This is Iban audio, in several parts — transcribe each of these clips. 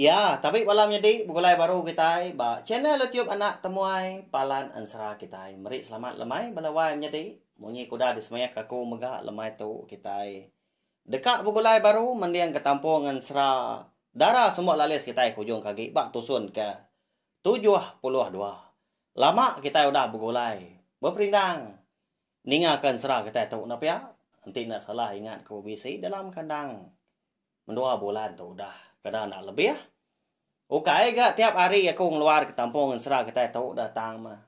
Iya, tabi bala menyedi begulai baru kitai ba channel YouTube anak temuai Palan Ensera kitai. Meri selamat lemai bala wai menyedi. Munyi ke udah disemaik aku mega lemai tu kitai deka begulai baru mending ke Tampung Ensera Dara Sumba Lalis kitai ke ujung ke agi ba tusun ke tujuh puluh dua. Lama kitai udah begulai beperindang ninga ke ensera kitai tu enda pia. Enti enda salah ingat ku bisi dalam kandang Mendua bulan tu udah kena enda lebih. Ukai ga tiap hari aku ngeluar ke tampung ensera kitai tu dah tang mah.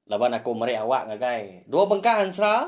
Laban aku meri awak ngagai dua bengkah ensera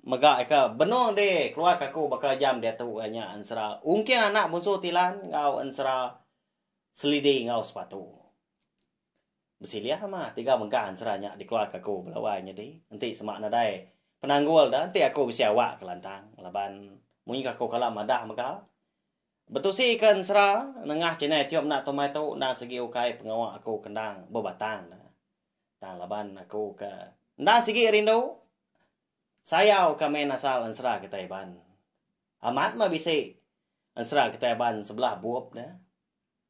mega ika benung di keluar ke aku baka jam diatu iya nya ensera ungking anak bunsu Tilan enggau ensera selidi enggau sepatu. Besilih amat tiga mega ansera nya dikeluarka aku bala wai nyadi. Enti sema nadai penanggul da enti aku bisi awak kelantang laban munyi aku kala madah mega betusika ensera nengah chinai tiup enda tumai tu enda sigi ukai pengawa aku ke endang bebatang da. Tang laban aku ke enda sigi rindu sayau ka main asal ensera kitai Iban. Amat meh bisi ensera kitai Iban sebelah bup da.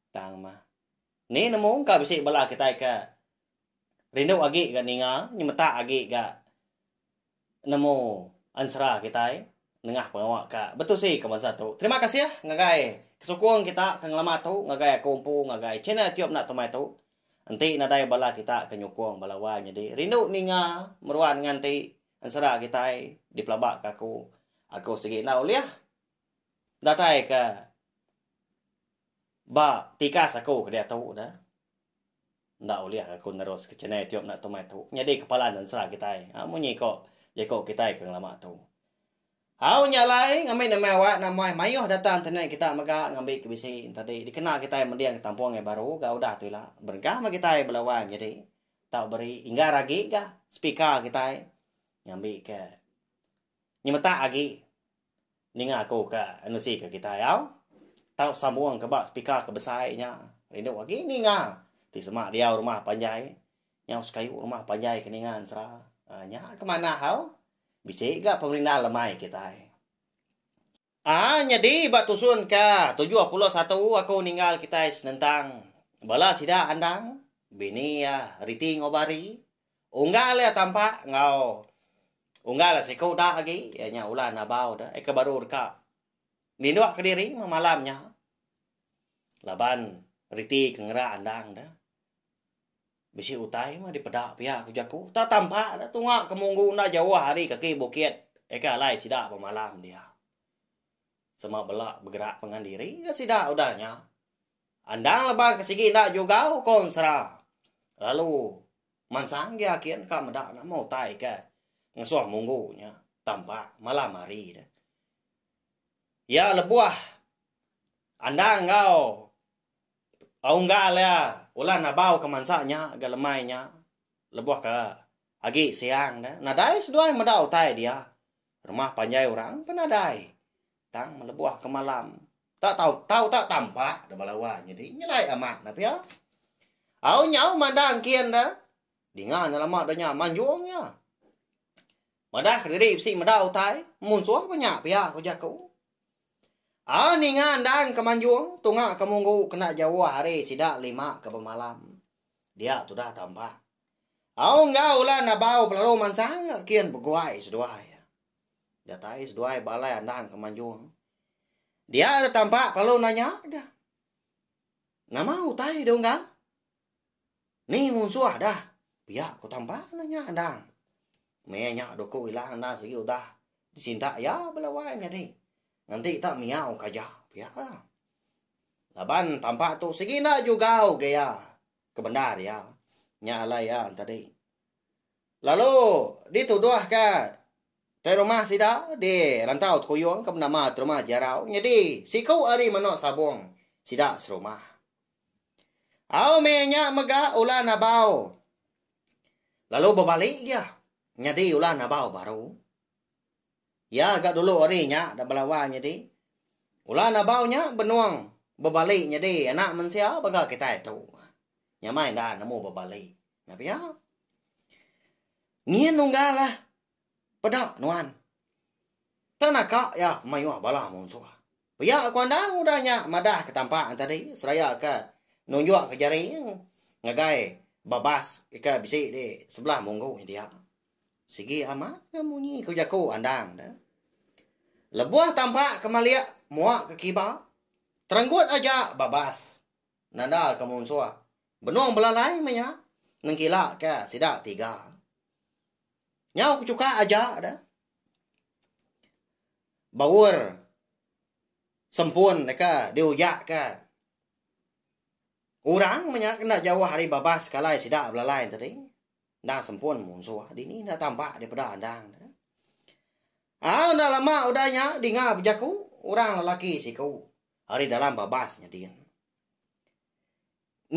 Tang meh. Ni nemu engka bisi bala kitai ke rindu agi ga ninga nyemetak agi ga nemu ensera kitai nengah pengawa ka betusi ke bansa tu. Terima kasih ngagai kesukung kita ke ngelama tu ngagai aku empu ngagai channel YouTube enda temai tu. Enti nadai bala kita ke nyukung bala wai nyadi rindu ninga meruan nganti ensera kitai dipelaba ka aku. Aku sigi enda ulih. Datai ka ba tikas aku ke diatu dah. Enda ulih aku nerus ke channel youtube enda tu meh tu. Nyadi kepala nensra kitai. Ha munyi ko jeko kitai ke ngelama tu. Au nya alai ngambi nama awak nama maioh data internet kita mega ngambi ke bisi tadi dikena kitai mending ke tampung ai baru ga udah tu ila. Berengkah meh kitai belawan nyadi tau beri inggar agi ga speaker kitai ngambi ke Nyemetak agi ninga aku ka nusi ka kitai au. Tau sambung ka ba speaker ka besai nya. Rindu agi ninga. Ti sema diau rumah panjai. Nyau sekayu rumah panjai ka ninga ensera. Nya ka manah au. Bisi ga pemerindah lemai kitai. Haa nyadi ba tusun ka tujuh pulo satu aku ninggal kitai senentang bala sida andang bini iya riti enggau bari unggal iya tampak enggau unggal iya siko udak agi iya nya Ulan Abau tu aka baru deka nindok kediri malam nya laban riti ke ngera andang tu. Bisi utai meh dipeda pia ku jaku tak tampak dah tunga ke munggu enda jauh ari kaki bukit eka alai sida bemalam dia. Sema bela begerak pengan diri dah sida udah nya. Andang lebang ke sigi enda jugau ko ensera. Lalu mansang gia kin ka meda nama utai ke ngesuh munggu nya tampak malam hari dah. Ia lebuh andang enggau Aunggal iya ulah nabau kemansa nya ga lemai nya lebuh ka agi siang da nadai seduai meda utai dia rumah panjai orang pun nadai tang melebuh ka malam ta tau tau ta tampak da bala wang nyadi nyelai amat na pia au nyau mandang kin da dinga nya lama da nya manjung iya madah kediri bisi meda utai munsuh ba nya pia ujar aku Ah ninga endang ke manjung tunga ke munggu kena jauh hari sida lima ke bemalam. Dia tudah tampak. Au enggau ulan abau pelalu mansang kian beguai seduai. Datai seduai balai andang ke manjung. Dia ada tampak pelalu nanya dah. Nama utai dia unggal? Ni munsuh dah. Pia ku tamban ne nya endang. Meh nya duku ila endang sigi udah disintak iya bala wai nyadi. Ngenti tak miau kaja. Pia lah. Laban tampak tu sigi enda jugau ke iya kebendar iya. Nya alai iya tadi. Lalu dituduh ke Te rumah sida di rantau Tekuyung ke benama Te rumah Jarau nyadi siku ari menoh sabong sida serumah. Au meh nya mega ulah nabau lalu bebali iya nyadi ulah nabau baru. Iya ga dulu ari nya da belawa nyadi ulah nabau nya benung bebali nyadi anak mensia baka kitai tu. Nyamai enda nemu bebali. Nya pia. Nyin unggal lah Peda nuan. Tang naka iya ke mayuh bala munsuh. Pia ku Andang udah nya madah ke tampa nya tadi seraya ke nunjuk ke jari ngagai babas ke bisi di sebelah munggu nya dia. Sigi amat ke munyi ku jaku Andang da. Lebuh tampa ke malik mua ke kiba terenggut aja babas nanda ke munsuh benung belalai meh iya nengkila ke sida tiga. Nyau ke chuka aja da. Baur sempun deka diujaka orang menya ke enda jauh ari babas sekalai sida belalai tadi. Endang sempun munsuh dini enda tamba daripada endang. Au enda lama udah nya dinga bejaku orang lelaki siku ari dalam babas nyadin.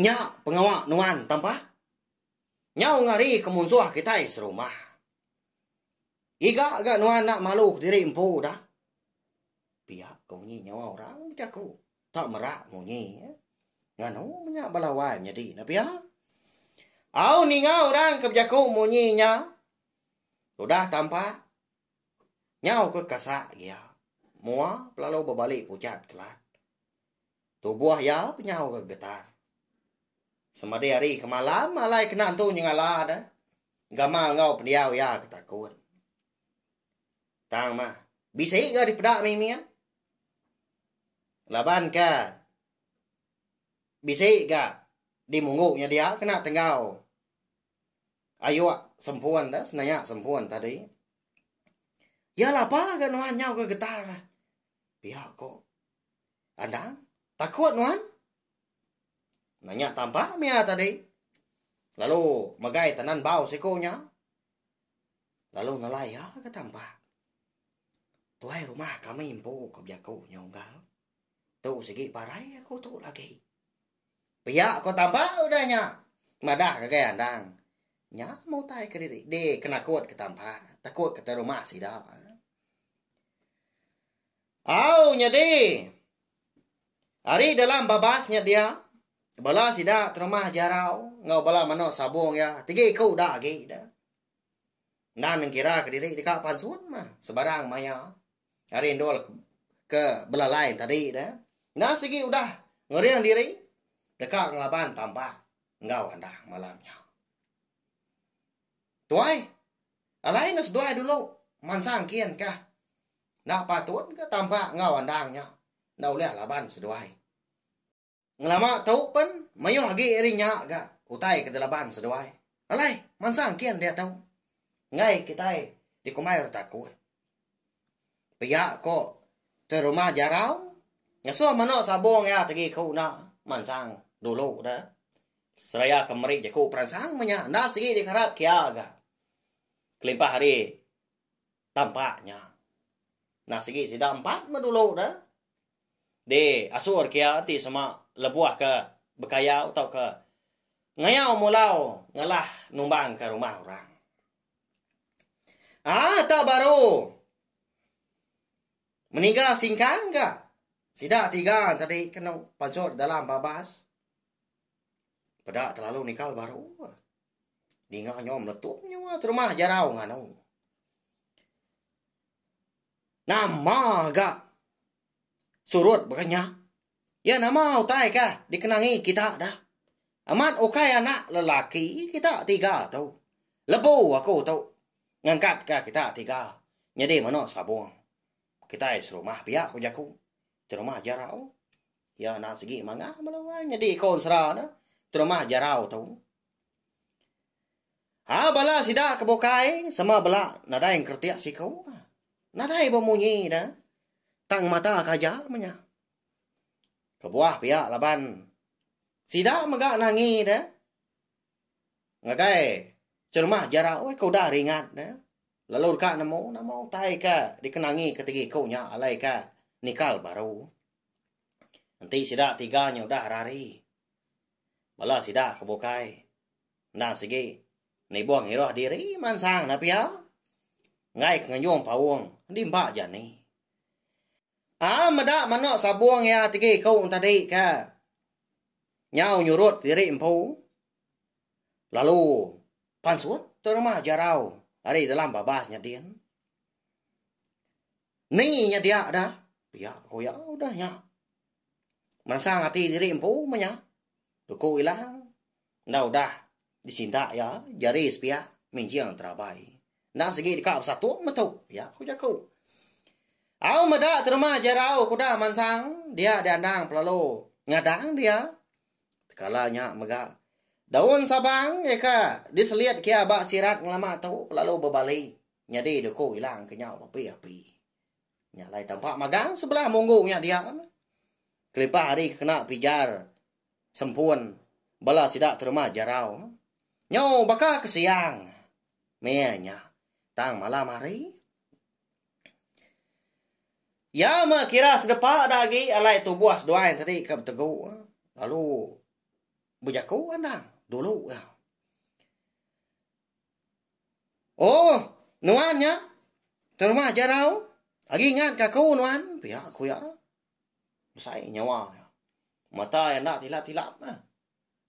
Nya pengawa nuan tambah. Nyau ngari ke munsuh kitai serumah. Iga ga nuan enda malu kediri empu dah. Pia ke munyi nyawa orang bejaku. Tak merak munyi. Eh. Nganu menya bala wan nyadi na pia. Au ninga orang ke bejaku munyi nya. Udah tampak. Nyau ke kasak dia. Mua pelalu berbalik pujat kelat. Tubuh iya penyaur getar. Semadi hari ke malam alai kena entu nyengala deh gamal enggau pendiau iya ke takun. Tang mah, bisi ga dipeda mimit. Laban ke bisi ga dimunggu nya dia kena tenggau ayuk sempun deh, senaya sempun tadi. Iya lapa ga nuan nyau ga getar. Pia ko. Kandang? Takut nuan? Nanya tampak mia tadi. Lalu megai tenan bau siko nya. Lalu nelai ya ke tampak. Tuai rumah kami empu ke biaku nyunggal. Tu segi parai aku tu lagi. Pia ko tampak udah nya. Madah ke gaya andang. Nya mutai ke diri. Di kenakut ke tampak. Takut ke rumah sida. Au nyadi. Ari dalam babas nya dia, bala sida terumah jarau enggau bala menoa sabong iya tigi ku udah agi da. Nan nengkira ke diri deka pansun mah sebarang maya ari endur ke belalai tadi da. Enda sigi udah ngering diri deka ngelaban tambak enggau andah malam nya. Tuai, alai enggau seduai dulu mansang kin kah. Enda patut ke tampak enggau endang nya enda ulih laban seduai. Ngelama tu pen mayuh agi ari nya ga utai ke dilaban seduai. Alai mansang kin diatu enggai kitai dikumbai orang takut. Pia ko te rumah jarau ngasuh mano sabong iya tegi ku enda mansang dulu da seraya ke meri jeku peransang menya enda sigi dikarap kia ga kelimpah ari tampak nya. Nah sigi sida empat meh dulu da. Di asur kia enti sema lebuh ke bekayau tauka ngayau mulau ngelah numbang ke rumah orang. Ah tak baru meniga singkang ga sida tiga tadi kenu pansut dalam babas. Peda telalu nikal baru. Ninga nyo meletup nyua terumah jarau nganu. Nama ga surut baka nya? Ya nama utai ka dikenangi kita dah. Amat ukai anak lelaki kita tiga tu. Lebu aku tu ngangkat ka kita tiga nyadi meno sabong. Kitai serumah pia ku jaku. Terumah Jarau. Iya anak segi manga bala wai nyadi konsra ne. Terumah Jarau tu. Ha bala sida ke bukai sama bela nadai engkertik siku. Nadai bemunyi dah. Tang mata kaja menya. Kebuah pia laban sida mega nangi dah. Ngagai cheremah jara oi ke udah ringat ne lalu deka nemu nama utai ke dikenangi ke tegi ku nya alai ke nikal baru. Enti sida tiga nya udah rari bala sida ke bukai endang sigi nibuh ngiruh diri mansang ne pia enggai ke ngenjung paung di empa jani. Aa meda meno sabung iya tegi ku tadi ke. nyau nyurut diri empu lalu pansut tu rumah jarau ari dalam babas nyadin. Ni nyedia dah? Pia ko iya udah nya. Mansang ati diri empu meh nya. Duku ilang enda udah Disinda iya jari sepiak minjing terabai. Endang sigi deka besatu metu iya ku jaku. Au meda terima jarau kuda mansang dia di andang pelalu ngadang dia. Tekala nya mega daun sabang eka diselit kia ba sirat ngelama tu pelalu bebali nyadi duku ilang kenyau api-api. Nya lai tampak magang sebelah munggu nya dia. Kelimpah hari kena pijar Sempun. Bala sida terma jerau. Nyau baka ke siang. Meh nya. Tang malam hari. Ya meh kira sedepa da agi alai tubuh seduai tadi ke betegu. Lalu bejaku andang dulu ya. Oh, nuan nya terma jerau. Agi ingat ka aku nuan, pia ku iya. Besai nyawa iya. Mata iya enda tilap-tilap meh.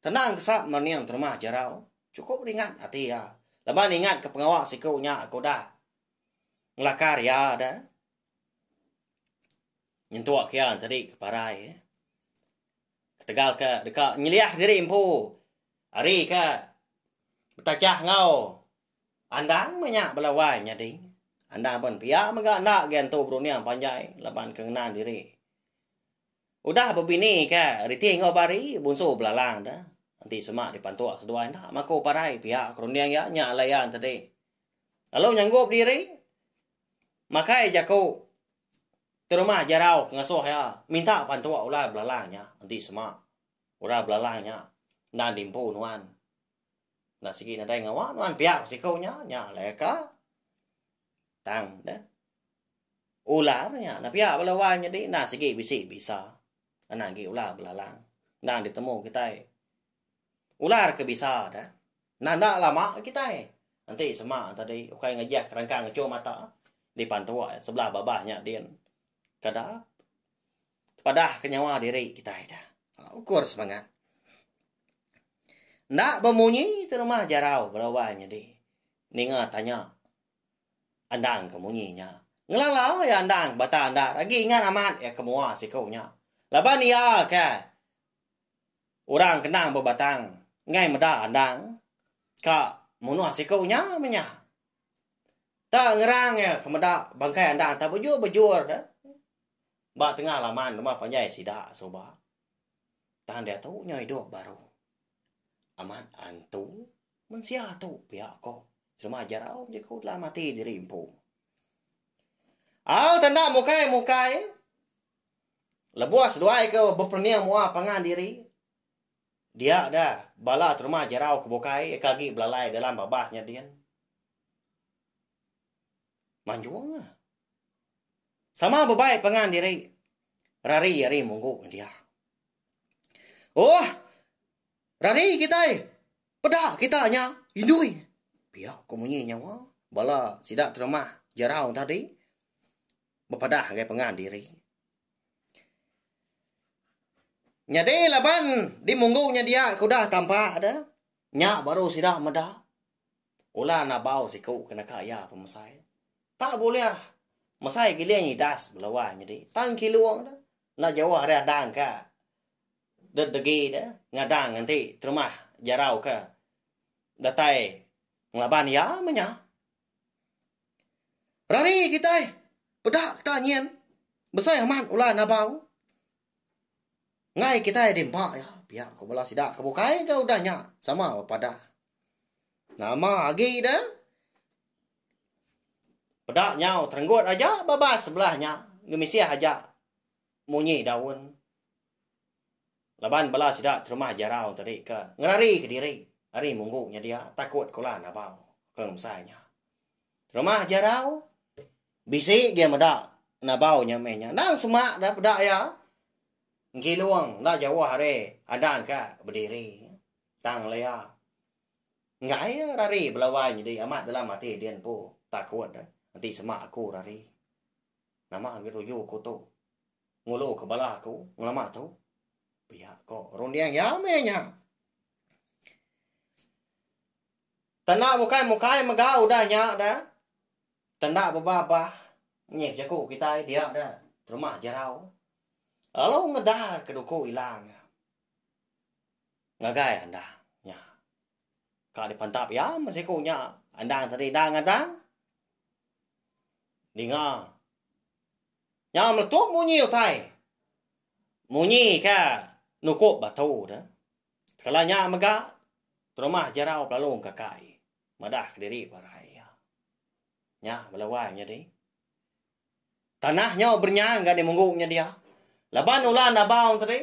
Tenang kesat mening terumah jerau. Chukup ringat ati iya. Laban ingat ke pengawa siku nya ke udah ngelakar iya dah. Nyentuk iya tadi ke parai. Ketegal ke deka nyeliah diri empu. Ari ke betachah enggau. Andang meh nya bela wai nyadi. Andang pen pia mega enda gen tu berunding panjai laban ke ngena diri. Udah bebini ke riti enggau bari bunsu belalang da enti sema dipantuk seduai enda maku parai pia ke runding iya nya alai iya tadi. Lalu nyanggup diri makai jaku ti rumah jarau ke ngasuh iya minta pantuk ular belalang nya enti sema ular belalang nya enda dimpu nuan. Enda sigi nadai ngawa nuan pia ku siku nya, nya alai ka. Tang deh. Ular nya enda pia bala wai nyadi enda sigi bisi bisa. Anak agi ular belalang. Enda ditemu kitai. Ular ke bisa deh. Enda enda lama kitai. Enti sema tadi ukai ngejah kerangkang ngechu mata di pantua sebelah babah nya din. Kada. Tepadah ke nyawa diri kitai da. Alah ukur semangat. Enda bemunyi tu rumah jarau berubai nyadi. Ninga tanya andang ke munyi nya. Ngelala iya andang ke bata enda agi ingat amat iya ke mua siku nya. Laban iya ke orang ke endang bebatang enggai meda andang ka munuh siku nya meh nya. Ta ngerang iya ke meda bangkai andang ta bejur-bejur da. Ba tengah laman rumah panjai sida suba tang diatu nya idup baru amat antu mensia tu pia ko Srima Jarau bejaku dalam ati diri empu. Au tanda mukai mukai lebuh seduai ke beperening mua pangan diri dia da bala terma jarau ke bukai ke agi belalai dalam babas nya din. manjung ah. Sama bebai pangan diri. Rari ari munggu dia. Oh, rari kita. Peda kita nya indui. Pia ko munyi nyawa. Bala sida terima jarau tadi. Bepadah ngai pangan diri. Nyadi laban di munggu nya dia kudah tampak dah. Nya baru sida meda. Ulah nabau siku ke naka iya pemesai. Tak bulih mesai giling idas belawan nyadi. Tang kilung de enda jauh ari adang ka dedegi de ngadang enti terumah jarau ke datai ngelaban iya meh nya. Rari kitai peda kita nyin besai amat ulah nabau enggai kitai dimpa iya pia ku bala sida ke bukai ke udah nya sama bepadah. Nama agi da? Peda nyau terenggut aja babas sebelah nya ngemisih aja munyi daun. Laban bala sida terumah jarau tadi ke ngerari kediri ari munggu nya dia takut kula nabau ke ngemsai nya. Terumah jarau bisi agi meda nabau nya meh nya. Endang sema da peda iya. Engkilung enda jauh ari andan ka bediri. Tang Lea. Enggai iya rari belawai nyedi amat dalam ati din empu. Takut dah. Enti semak aku rari. Nama agi tuju aku tu. Ngulu ke bala aku ngelama tu. Pia ko runding iya meh nya. Tanda mukai-mukai mega udah nya dah. Tanda bebabah nyih jaku kitai dia dah. Terumah jerau. Lalu ngedar ke duku ilang. Ngagai andang nya. Ka dipantap iya meh siku nya andang tadi dah ngadang. Ninga. Nya meletup munyi utai. Munyi ke nukup batu de. Kala nya mega terumah jerau pelalung kaka iya. Madah kediri parai iya. Nya bala wai nyadi. Tanah nyau berenyang ga dimunggu nya dia. Laban ulah nabau tadi.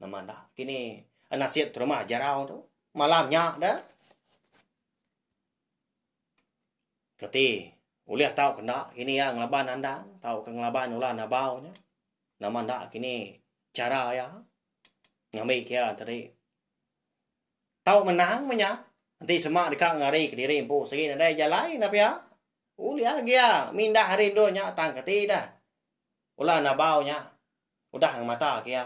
Nama enda kini nasib terima jarau tu. Malam nya da. Keti ulih tau kena kini ya ngelaban anda, tau ke ngelaban ulan abau nya. Nama enda kini cara ya ngambi kia tadi. Tau menang menya. Nanti sema deka ngari kediri empu sigi nadai jalai na pia. Ulih agia mindah rindu nya tang keti dah. Ulan abau nya. Udah ngemata ke iya.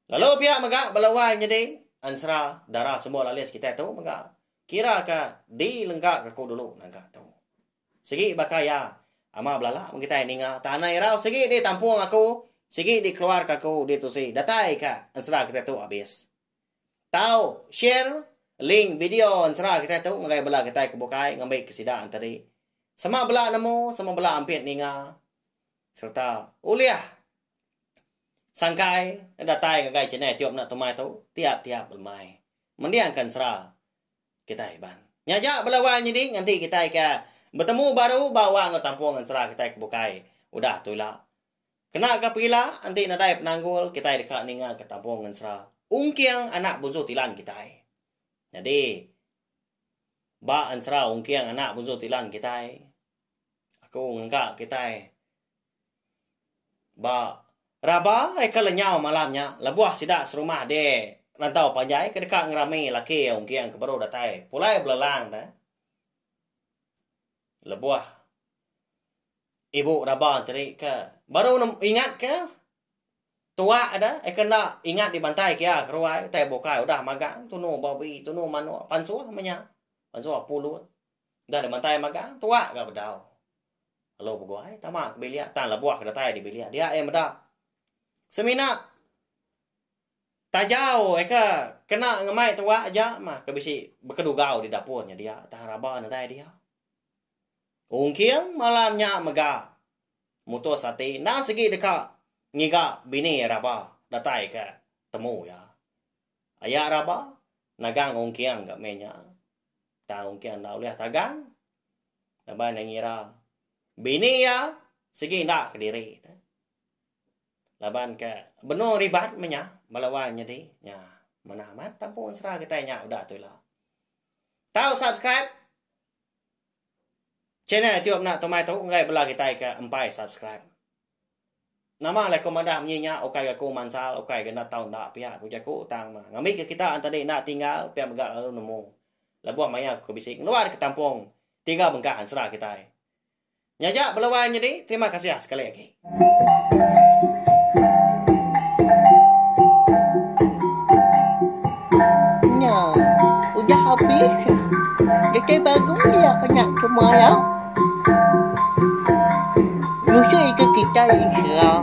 Lalu pia mega bala wai nyedi ansra dara semua lalis kitai tu mega kira ka di lengga ka ku dulu naga tu. Sigi baka iya ama belala mung kitai ninga tanah irau sigi di tampung aku sigi di keluar ka ku di tusi datai ka ansra kitai tu abis. Tau share link video ensera kitai tu ngagai bala kitai ke bukai ngambi ke sida enti di. Sama bala nemu, sama bala ampit ninga sereta ulih sangkai datai ngagai channel Tiop Enda Tumai tu tiap-tiap lemai. Mendingka ensera kitai iban. Nya aja bala wang nyadi nganti kitai ke betemu baru ba wang enggau tampung ensera kitai ke bukai udah tu ila. Kena ga perila enti nadai penanggul kitai deka ninga ke Tampung Ngensera ungking anak Bunsu Tilan kitai. Nyadi ba ensera ungking anak Bunsu Tilan kitai aku ngengka kitai ba raba ai ke lenyau malam nya lebuh sida serumah di rantau panjai ke deka ngerami laki ungking ke baru datai pulai belelang te. lebuh ibu raba tadi ke baru ne ingat ke tuak de eka enda ingat dibantai ke iya ke ruai tai bukai udah magang tunu babi tunu manok pansuh meh nya pansuh pulut dah dibantai magang tuak ga bedau lalu beguai tama ke bilik tang lebuh ke datai dibilik dia iya meda semina Tajau eka kena ngemai tuak aja mah ke bisi bekedugau di dapur nya dia tah raba nedai dia. Ungking malam nya mega mutus ati enda sigi deka ngiga bini raba datai ke temu iya. Aya raba nagang ungking ga meh nya tah ungking enda ulih tagang laban iya ngira bini iya sigi enda kediri ne. Laban ka benung ribat meh nya bala wai nyadi nya manah amat tampung sera kitai nya udah tu ila. Tau subscribe channel tiup nak tumai tu enggai bela kitai ka empai subscribe. Nama lah aku madah menyi nya ukai ga aku mansal ukai ga nak tau enda pia ku jaku tang mah. Ngambi ke kita tadi enda tinggal pia mega lalu nemu. Lebuh maya aku bisi ngeluar ke tampung tiga bengkah ensera kitai. Nya aja bela wai nyadi terima kasih sekali agi. Nya udah habis dekai bagu iya ke nya ke malau ngusui ke kitai ensera.